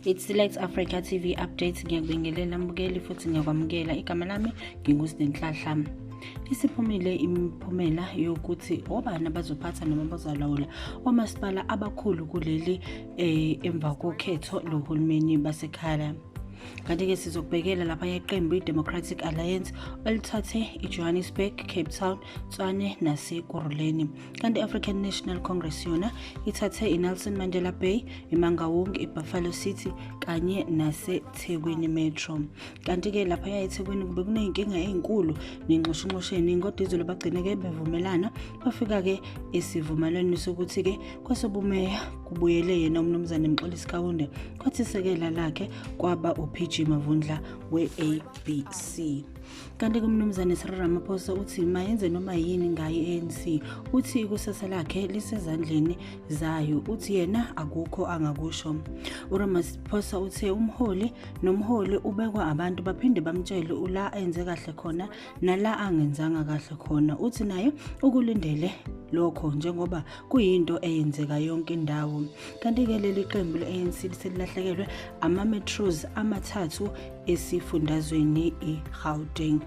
it's select africa tv updates ngiyakubingelela mbukeli futhi ngiyakwamukela igama lami ngingusidenhlahla isiphumile imiphumela yokuthi obani abazophatha noma bazalawula omasipala abakhulu kuleli eh, emva kokhetho lohulumeni basekhaya kanti-ke sizokubhekela lapha yeqembu i-democratic alliance elithathe i-johannesburg cape town tswane nasekuruleni kanti i-african national congress yona ithathe i-nelson mandela bay imangawong ibuffalo city kanye nasethekwini metro kanti-ke lapha yayethekwini kube kuney'nkinga ey'nkulu nenxushunxushe eningi kodwa izolo bagcine-ke bevumelana bafika-ke esivumelwaneni sokuthi-ke Kwesobumeya kubuyele yena uMnumzane Mxolisi Kaunde kwathi isekela lakhe kwaba uPG Mavundla we-ABC. Kanti kuMnumzane Cyril Ramaphosa uthi mayenze noma yini ngaye i-ANC uthi ikusasa lakhe lisezandleni zayo uthi yena akukho angakusho. URamaphosa uthe umholi nomholi ubekwa abantu baphinde bamtshele ula enze kahle khona nala angenzanga kahle khona uthi naye ukulindele lokho njengoba kuyinto eyenzeka yonke indawo kanti-ke leli qembu le-anc liselilahlekelwe ama-metros amathathu esifundazweni i-gauteng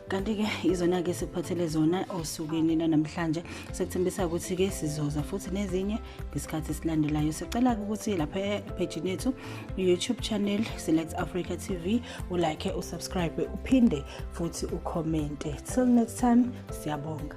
kanti-ke izona-ke sikuphathele zona osukwini lanamhlanje sekuthembisa ukuthi-ke sizoza futhi nezinye ngesikhathi esilandelayo sicela-ke ukuthi lapha ephejini yethu youtube channel select africa tv ulike usubscribe uphinde futhi ukhomente till next time siyabonga